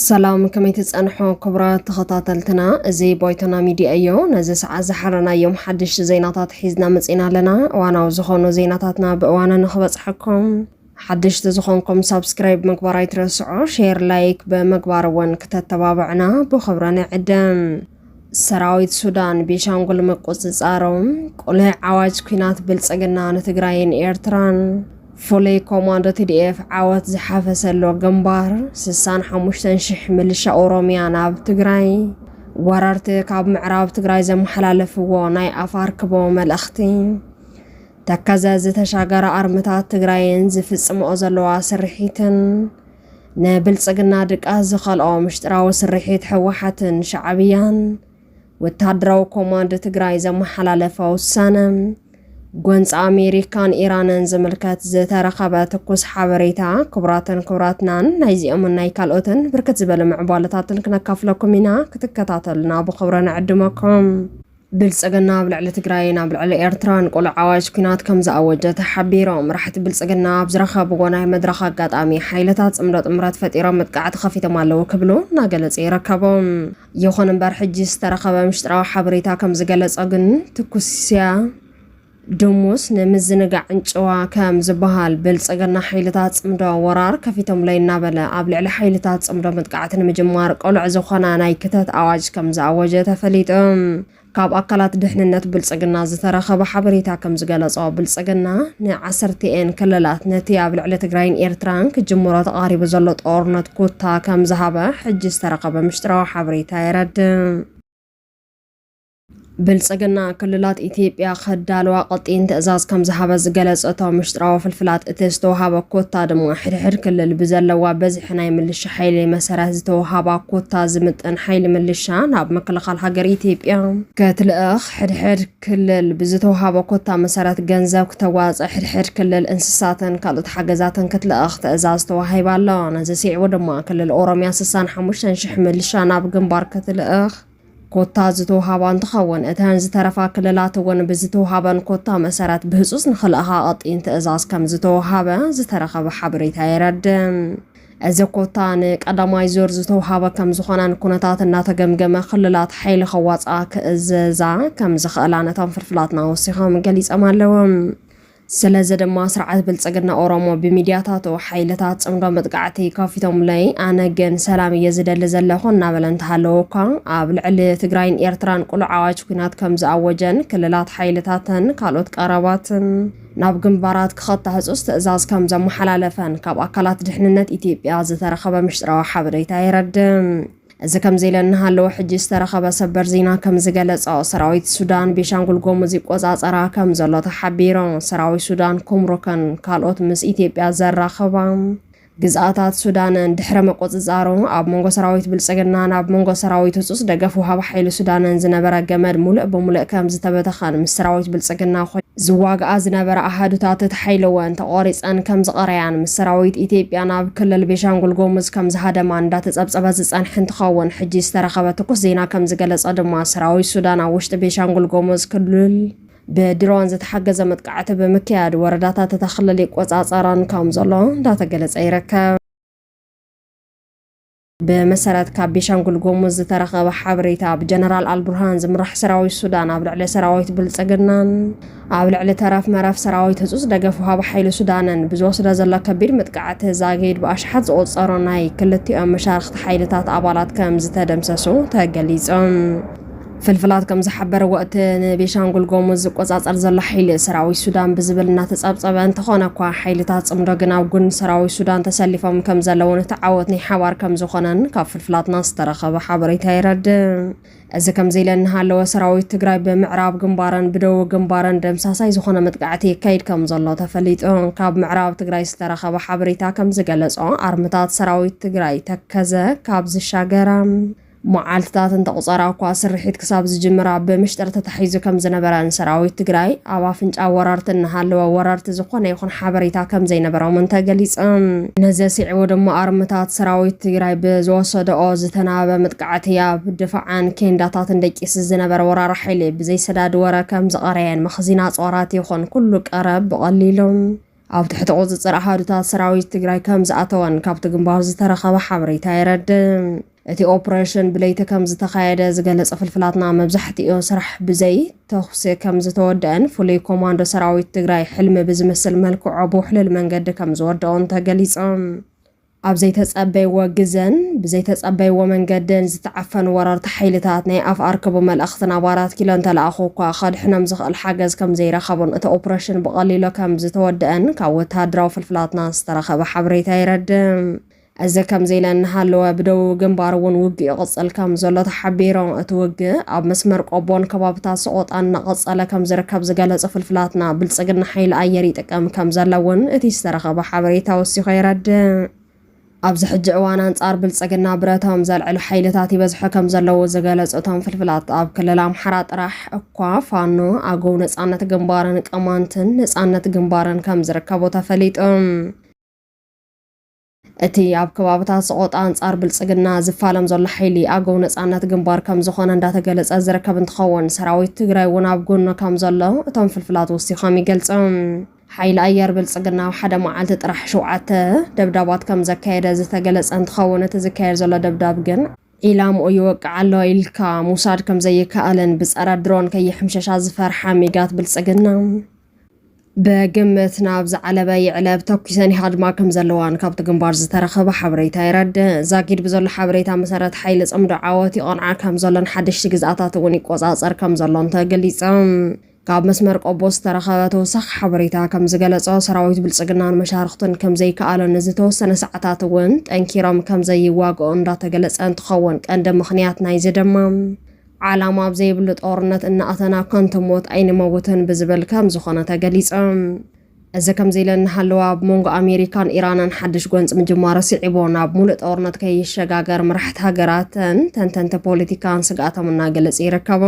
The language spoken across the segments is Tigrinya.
ሰላም ከመይ ትፀንሑ ክቡራት ተኸታተልትና እዚ ቦይቶና ሚድያ እዮ ነዚ ሰዓት ዝሓረናዮም ሓድሽቲ ዜናታት ሒዝና መፂና ኣለና እዋናዊ ዝኾኑ ዜናታትና ብእዋኑ ንኽበፅሐኩም ሓደሽቲ ዝኾንኩም ሳብስክራይብ ምግባር ኣይትረስዑ፣ ሼር ላይክ ብምግባር እውን ክተተባብዕና ብኽብሪ ንዕድም። ሰራዊት ሱዳን ቤሻንጉል ምቁፅፃሮም፣ ቁልዕ ዓዋጅ ኩናት ብልፅግና ንትግራይን ኤርትራን፣ ፍሉይ ኮማንዶ ቲዲኤፍ ዓወት ዝሓፈሰሎ ግንባር፣ ስሳን ሓሙሽተን ሽሕ ምልሻ ኦሮሚያ ናብ ትግራይ፣ ወረርቲ ካብ ምዕራብ ትግራይ ዘመሓላለፍዎ ናይ ኣፋር ክቦ መልእኽቲ፣ ተከዘ ዝተሻገረ ኣርምታት ትግራይን ዝፍፅመኦ ዘለዋ ስርሒትን ንብልፅግና ድቃስ ዝኸልኦ ምሽጥራዊ ስርሒት ሕወሓትን ሻዕብያን ወታደራዊ ኮማንድ ትግራይ ዘመሓላለፈ ውሳነ ጎንፂ ኣሜሪካን ኢራንን ዝምልከት ዝተረኸበ ትኩስ ሓበሬታ ክቡራትን ክቡራትናን ናይዚኦምን ናይ ካልኦትን ብርክት ዝበለ ምዕባለታትን ክነካፍለኩም ኢና ክትከታተሉና ብኽብረ ንዕድመኩም ብልፅግና ኣብ ልዕሊ ትግራይን ኣብ ልዕሊ ኤርትራን ቁሉዕ ኣዋጅ ኲናት ከም ዝኣወጀ ተሓቢሮም። መራሕቲ ብልፅግና ኣብ ዝረኸብዎ ናይ መድረኽ ኣጋጣሚ ሓይልታት ፅምዶ ጥምረት ፈጢሮም መጥቃዕቲ ከፊቶም ኣለው ክብሉ እናገለፁ ይርከቡ። ይኹን እምበር ሕጂ ዝተረኸበ ምሽጥራዊ ሓበሬታ ከም ዝገለፆ ግን ትኩስያ፣ ድሙስ ንምዝንጋዕን ጭዋ ከም ዝበሃል፣ ብልጽግና ሓይልታት ጽምዶ ወራር ከፊቶምለይ እናበለ ኣብ ልዕሊ ሓይልታት ጽምዶ መጥቃዕቲ ንምጅማር ቅሉዕ ዝኾነ ናይ ክተት ኣዋጅ ከም ዝኣወጀ ተፈሊጡ። ካብ ኣካላት ድሕንነት ብልጽግና ዝተረኸበ ሓበሬታ ከም ዝገለጾ፣ ብልጽግና ንዓሰርቲኤን ክልላት ነቲ ኣብ ልዕሊ ትግራይን ኤርትራን ክጅምሮ ተቓሪቡ ዘሎ ጦርነት ኩታ ከም ዝሃበ ሕጂ ዝተረኸበ ምሽጥራዊ ሓበሬታ የረድእ። ብልጽግና ክልላት ኢትዮጵያ ከዳልዋ ቀጢን ትእዛዝ ከም ዝሃበ ዝገለጸ እቶም ምሽጥራዊ ፍልፍላት እቲ ዝተውሃበ ኮታ ድማ ሕድሕድ ክልል ብዘለዋ በዝሒ ናይ ምልሻ ሓይሊ መሰረት ዝተውሃባ ኮታ ዝምጥን ሓይሊ ምልሻ ናብ ምክልኻል ሃገር ኢትዮጵያ ከትልእኽ ሕድሕድ ክልል ብዝተውሃበ ኮታ መሰረት ገንዘብ ክተዋፀ ሕድሕድ ክልል እንስሳትን ካልኦት ሓገዛትን ክትልእኽ ትእዛዝ ተዋሂባ ኣሎ። ነዚ ስዒቡ ድማ ክልል ኦሮሚያ 65 ሽሕ ምልሻ ናብ ግንባር ክትልእኽ ኮታ ዝተውሃባ እንትኸውን፣ እተን ዝተረፋ ክልላት እውን ብዝተውሃበን ኮታ መሰረት ብህፁፅ ንኽልእኻ ቐጢን ትእዛዝ ከምዝተውሃበ ዝተረኸበ ሓበሬታ የረድእ። እዚ ኮታ ንቀዳማይ ዙር ዝተውሃበ ከምዝኾነን ኩነታት እናተገምገመ ክልላት ሓይሊ ከዋፅኣ ክእዘዛ ከምዝኽእላን እቶም ፍልፍላትና ወሲኾም ገሊፆም ኣለው። ስለዚ ድማ ስርዓት ብልፅግና ኦሮሞ ብሚድያታቱ ሓይልታት ፅምዶ መጥቃዕቲ ከፊቶምለይ ኣነ ግን ሰላም እየ ዝደሊ ዘለኹ እናበለ እንተሃለወ እኳ ኣብ ልዕሊ ትግራይን ኤርትራን ቅሉዕ ኣዋጅ ኲናት ከምዝኣወጀን ክልላት ሓይልታተን ካልኦት ቀረባትን ናብ ግንባራት ክኸታ ህፁፅ ትእዛዝ ከምዘመሓላለፈን ካብ ኣካላት ድሕንነት ኢትዮጵያ ዝተረኸበ ምሽጥራዊ ሓበሬታ የረድእ። እዚ ከምዚ ኢለ እናሃለወ ሕጂ ዝተረኸበ ሰበር ዜና ከም ዝገለጾ ሰራዊት ሱዳን ቤሻንጉል ጎሙዝ ይቆጻጸራ ከም ዘሎ ተሓቢሩ። ሰራዊት ሱዳን ኩምሩክን ካልኦት ምስ ኢትዮጵያ ዘራኽባ ግዝኣታት ሱዳንን ድሕረ ምቁጽጻሩ ኣብ መንጎ ሰራዊት ብልጽግናን ኣብ መንጎ ሰራዊት ህጹጽ ደገፍ ወሃቢ ሓይሊ ሱዳንን ዝነበረ ገመድ ሙሉእ ብሙሉእ ከም ዝተበተኸን ምስ ሰራዊት ብልጽግና ዝዋግኣ ዝነበራ ኣሃዱታት ተሓይለወን፣ ተቖሪጸን ከም ዝቐረያን ምስ ሰራዊት ኢትዮጵያ ናብ ክልል ቤሻንጉል ጎሙዝ ከም ዝሃደማን እንዳተጸብጸበ ዝጸንሐ እንትኸውን ሕጂ ዝተረኸበ ትኩስ ዜና ከም ዝገለጾ ድማ ሰራዊት ሱዳን ኣብ ውሽጢ ቤሻንጉል ጎሙዝ ክልል ብድሮን ዝተሓገዘ መጥቃዕቲ ብምክያድ ወረዳታት እታ ክልል ይቆጻጸረን ከም ዘሎ እንዳተገለጸ ይርከብ። ብመሰረት ካብ ቤሻንጉል ጎሙዝ ዝተረኸበ ሓበሬታ ብጀነራል ኣልቡርሃን ዝምራሕ ሰራዊት ሱዳን ኣብ ልዕሊ ሰራዊት ብልፅግናን ኣብ ልዕሊ ተረፍ መረፍ ሰራዊት ህፁፅ ደገፍ ውሃቢ ሓይሊ ሱዳንን ብዝወስደ ዘሎ ከቢድ መጥቃዕቲ ዛጊድ ብኣሽሓት ዝቑፀሩ ናይ ክልቲኦም መሻርኽቲ ሓይልታት ኣባላት ከም ዝተደምሰሱ ተገሊፆም። ፍልፍላት ከምዝሓበርዎ እቲ ንቤሻንጉል ጎሙዝ ዝቆፃፀር ዘሎ ሓይሊ ሰራዊት ሱዳን ብዝብል እናተፀብፀበ እንተኾነ እኳ ሓይልታት ፅምዶ ግን ኣብ ጎኒ ሰራዊት ሱዳን ተሰሊፎም ከምዘለውን እቲ ዓወት ናይ ሓባር ከምዝኾነን ካብ ፍልፍላትና ዝተረኸበ ሓበሬታ የረድእ። እዚ ከምዚ ኢለ እናሃለወ ሰራዊት ትግራይ ብምዕራብ ግንባርን ብደቡብ ግንባርን ደምሳሳይ ዝኾነ መጥቃዕቲ የካይድ ከምዘሎ ተፈሊጡ። ካብ ምዕራብ ትግራይ ዝተረኸበ ሓበሬታ ከምዝገለፆ ኣርምታት ሰራዊት ትግራይ ተከዘ ካብ ዝሻገራ መዓልትታት እንተቑፀራ እኳ ስርሒት ክሳብ ዝጅምር ኣብ ብምሽጥር ተታሒዙ ከምዝነበረን ሰራዊት ትግራይ ኣብ ኣፍንጫ ወረርቲ እናሃለወ ወረርቲ ዝኾነ ይኹን ሓበሬታ ከምዘይነበሮምን ተገሊፁ። ነዚ ስዒቡ ድማ ኣርምታት ሰራዊት ትግራይ ብዝወሰደኦ ዝተናበበ መጥቃዕቲ ኣብ ድፋዕን ኬንዳታትን ደቂሱ ዝነበረ ወራሪ ሓይሊ ብዘይሰዳድ ወረ ከምዝቐረየን መኽዚን ኣፅዋራት ይኹን ኩሉ ቀረብ ብቐሊሉ ኣብ ትሕቲ ቁፅፅር ኣሃዱታት ሰራዊት ትግራይ ከም ዝኣተወን ካብቲ ግንባር ዝተረኸበ ሓበሬታ የረድእ። እቲ ኦፕሬሽን ብለይቲ ከም ዝተኻየደ ዝገለፀ ፍልፍላትና መብዛሕትኡ ስራሕ ብዘይ ተኹሲ ከም ዝተወደአን ፍሉይ ኮማንዶ ሰራዊት ትግራይ ሕልሚ ብዝመስል መልክዖ ብውሕልል መንገዲ ከም ዝወደኦን ተገሊፆም። ኣብ ዘይተጸበይዎ ግዘን ብዘይተጸበይዎ መንገድን ዝተዓፈኑ ወረርቲ ሓይልታት ናይ ኣፍ ኣርክቡ መልእኽቲ ናብ ኣራት ኪሎ እንተለኣኹ እኳ ከድሕኖም ዝኽእል ሓገዝ ከምዘይረኸቡን እቲ ኦፕረሽን ብቐሊሎ ከምዝተወደኣን ካብ ወተሃደራዊ ፍልፍላትና ዝተረኸበ ሓበሬታ የረድእ። እዚ ከምዚ ኢለ እናሃለወ ብደቡብ ግንባር እውን ውግእ ይቕጽል ከምዘሎ ተሓቢሩ። እቲ ውግእ ኣብ መስመር ቆቦን ከባብታት ሰቖጣን እናቐጸለ ከምዝርከብ ዝገለጹ ፍልፍላትና ብልጽግና ሓይሊ ኣየር ጥቅም ከምዘሎ እውን እቲ ዝተረኸበ ሓበሬታ ወሲኾ የረድእ። ኣብዚ ሕጂ እዋን ኣንፃር ብልፅግና ብረቶም ዘልዕሉ ሓይልታት ይበዝሑ ከምዘለዉ ዝገለፁ እቶም ፍልፍላት ኣብ ክልል ኣምሓራ ጥራሕ እኳ ፋኖ፣ ኣገው ነፃነት ግንባርን ቅማንትን ነፃነት ግንባርን ከምዝርከቡ ተፈሊጡ። እቲ ኣብ ከባብታት ሰቖጣ ኣንፃር ብልፅግና ዝፋለም ዘሎ ሓይሊ ኣገው ነፃነት ግንባር ከምዝኾነ እንዳተገለፀ ዝርከብ እንትኸውን ሰራዊት ትግራይ እውን ኣብ ጎኑ ከምዘሎ እቶም ፍልፍላት ወሲኾም ይገልፁ። ሓይሊ ኣየር ብልፅግና ኣብ ሓደ መዓልቲ ጥራሕ ሸውዓተ ደብዳባት ከምዘካየደ ዝተገለፀ እንትኸውን እቲ ዝካየድ ዘሎ ደብዳብ ግን ዒላምኡ ይወቅዕ ኣሎ ኢልካ ምውሳድ ከምዘይከኣልን ብፀረ ድሮን ከይሕምሸሻ ዝፈርሓ ሚጋት ብልፅግና፣ ብግምት ናብ ዝዓለበ ይዕለብ ተኲሰን ይሃድማ ከም ዘለዋን ካብቲ ግንባር ዝተረኸበ ሓበሬታ የረድእ። ዛጊድ ብዘሎ ሓበሬታ መሰረት ሓይሊ ጽምዶ ዓወት ይቐንዓ ከም ዘሎን ሓደሽቲ ግዝኣታት እውን ይቆጻጸር ከም ዘሎን ተገሊጸም። ካብ መስመር ቆቦ ዝተረኸበ ተወሳኺ ሓበሬታ ከም ዝገለጾ ሰራዊት ብልጽግናን መሻርኽቱን ከም ዘይከኣሎ ንዝተወሰነ ሰዓታት እውን ጠንኪሮም ከም ዘይዋግኦ እንዳተገለጸ እንትኸውን ቀንዲ ምኽንያት ናይዚ ድማ ዓላማ ኣብ ዘይብሉ ጦርነት እናኣተና ከንቱ ሞት ኣይንመውትን ብዝብል ከም ዝኾነ ተገሊጸ። እዚ ከምዚ ኢለ እናሃለወ ኣብ መንጎ ኣሜሪካን ኢራንን ሓድሽ ጎንፂ ምጅማሩ ስዒቡ ናብ ሙሉእ ጦርነት ከይሸጋገር መራሕቲ ሃገራትን ተንተንቲ ፖለቲካን ስግኣቶም እናገለፁ ይርከቡ።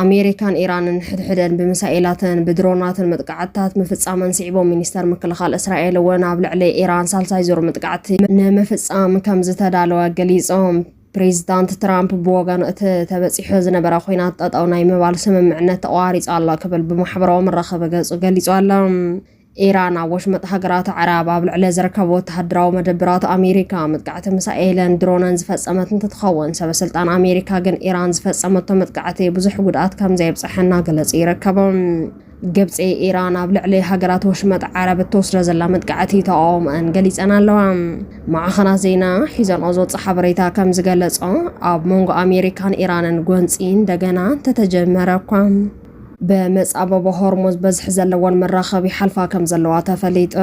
ኣሜሪካን ኢራንን ንሕድሕደን ብሚሳኤላትን ብድሮናትን መጥቃዕትታት ምፍፃመን ስዒቡ ሚኒስተር ምክልኻል እስራኤል እውን ኣብ ልዕሊ ኢራን ሳልሳይ ዙር መጥቃዕቲ ንምፍፃም ከም ዝተዳለወ ገሊፆም። ፕሬዚዳንት ትራምፕ ብወገኑ እቲ ተበፂሑ ዝነበረ ኩናት ጠጠው ናይ ምባል ስምምዕነት ተቋሪፁ ኣሎ ክብል ብማሕበራዊ መራኸቢ ገፁ ገሊፁ ኣሎ። ኢራን ኣብ ወሽመጥ ሃገራት ኣዕራብ ኣብ ልዕሊ ዝርከቡ ወተሃደራዊ መደብራት ኣሜሪካ መጥቃዕቲ ሚሳኤልን ድሮነን ዝፈፀመት እንትትኸውን ሰበስልጣን ኣሜሪካ ግን ኢራን ዝፈፀመቶ መጥቃዕቲ ብዙሕ ጉድኣት ከምዘየብፀሐ እናገለፁ ይርከቡ። ግብፂ ኢራን ኣብ ልዕሊ ሃገራት ወሽመጥ ዓረብ እትወስዶ ዘላ መጥቃዕቲ ተቓውሞኣን ገሊፀን ኣለዋ። ማዕኸናት ዜና ሒዘንኦ ዝወፅ ሓበሬታ ከም ዝገለፆ ኣብ መንጎ ኣሜሪካን ኢራንን ጎንፂ እንደገና እንተተጀመረ እኳ ብመፃበቦ ሆርሙዝ በዝሒ ዘለወን መራኸቢ ይሓልፋ ከም ዘለዋ ተፈሊጡ።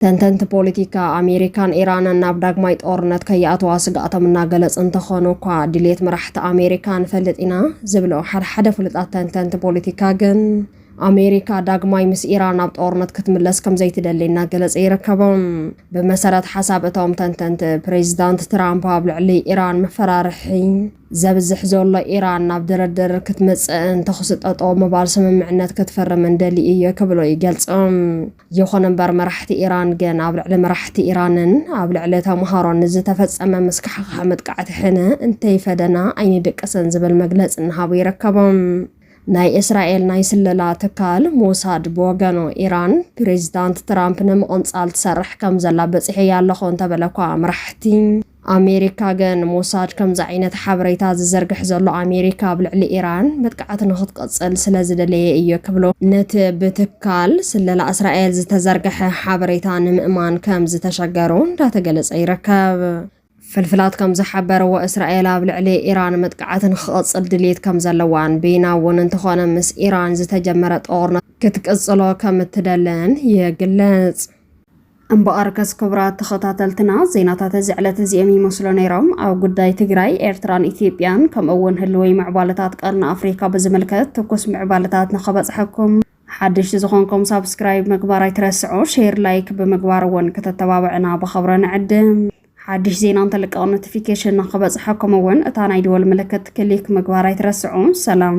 ተንተንቲ ፖለቲካ፣ ኣሜሪካን ኢራንን ናብ ዳግማይ ጦርነት ከይኣተዋ ስግኣቶም እናገለጹ እንተኾኑ እኳ፣ ድሌት መራሕቲ ኣሜሪካ ንፈልጥ ኢና ዝብሉ ሓደ ሓደ ፍሉጣት ተንተንቲ ፖለቲካ ግን፣ ኣሜሪካ ዳግማይ ምስ ኢራን ናብ ጦርነት ክትምለስ ከምዘይትደሊ እናገለጹ ይርከቡ። ብመሰረት ሓሳብ እቶም ተንተንቲ፣ ፕሬዚዳንት ትራምፕ ኣብ ልዕሊ ኢራን መፈራርሒ ዘብዝሕ ዘሎ፣ ኢራን ናብ ድርድር ክትመጽእን ተኹሲ ጠጠው ምባል ስምምዕነት ክትፍርምን ደልዩ እዩ ክብሉ ይገልጹ። ይኹን እምበር መራሕቲ ኢራን ግን ኣብ ልዕሊ መራሕቲ ኢራንን ኣብ ልዕሊ ተምሃሮን ንዝተፈጸመ ምስካሕኻሕ መጥቃዕቲ ሕነ እንተይፈደና ኣይንድቅስን ዝብል መግለጺ እናሃቡ ይርከቡ። ናይ እስራኤል ናይ ስለላ ትካል ሞሳድ ብወገኑ ኢራን ፕሬዚዳንት ትራምፕ ንምቕንጻል ትሰርሕ ከምዘላ በጺሐያ ኣለኹ እንተበለ'ኳ መራሕቲ ኣሜሪካ ግን ሞሳድ ከምዚ ዓይነት ሓበሬታ ዝዘርግሕ ዘሎ ኣሜሪካ ኣብ ልዕሊ ኢራን መጥቃዕቲ ንኽትቕጽል ስለ ዝደለየ እዮ ክብሉ፣ ነቲ ብትካል ስለላ እስራኤል ዝተዘርገሐ ሓበሬታ ንምእማን ከም ዝተሸገሩ እንዳተገለጸ ይርከብ። ፍልፍላት ከም ዝሓበርዎ እስራኤል ኣብ ልዕሊ ኢራን መጥቃዕቲ ንኽቕጽል ድልየት ከም ዘለዋን ብይና እውን እንተኾነ ምስ ኢራን ዝተጀመረ ጦርነት ክትቅጽሎ ከም እትደልን ይግለጽ። እምበኣርከስ ክቡራት ተኸታተልትና ዜናታት እዚ ዕለት እዚኦም ይመስሉ ነይሮም። ኣብ ጉዳይ ትግራይ፣ ኤርትራን ኢትዮጵያን ከምኡ እውን ህልወይ ምዕባለታት ቀርኒ ኣፍሪካ ብዝምልከት ትኩስ ምዕባለታት ንኸበፅሐኩም ሓድሽቲ ዝኾንኩም ሳብስክራይብ ምግባር ኣይትረስዑ፣ ሼር ላይክ ብምግባር እውን ከተተባብዕና ብኸብረ ንዕድም። ሓድሽ ዜና እንትልቀቕ ኖቲፊኬሽን ንክበፅሐኩም እውን እታ ናይ ደወል ምልክት ክሊክ ምግባር ኣይትረስዑ። ሰላም።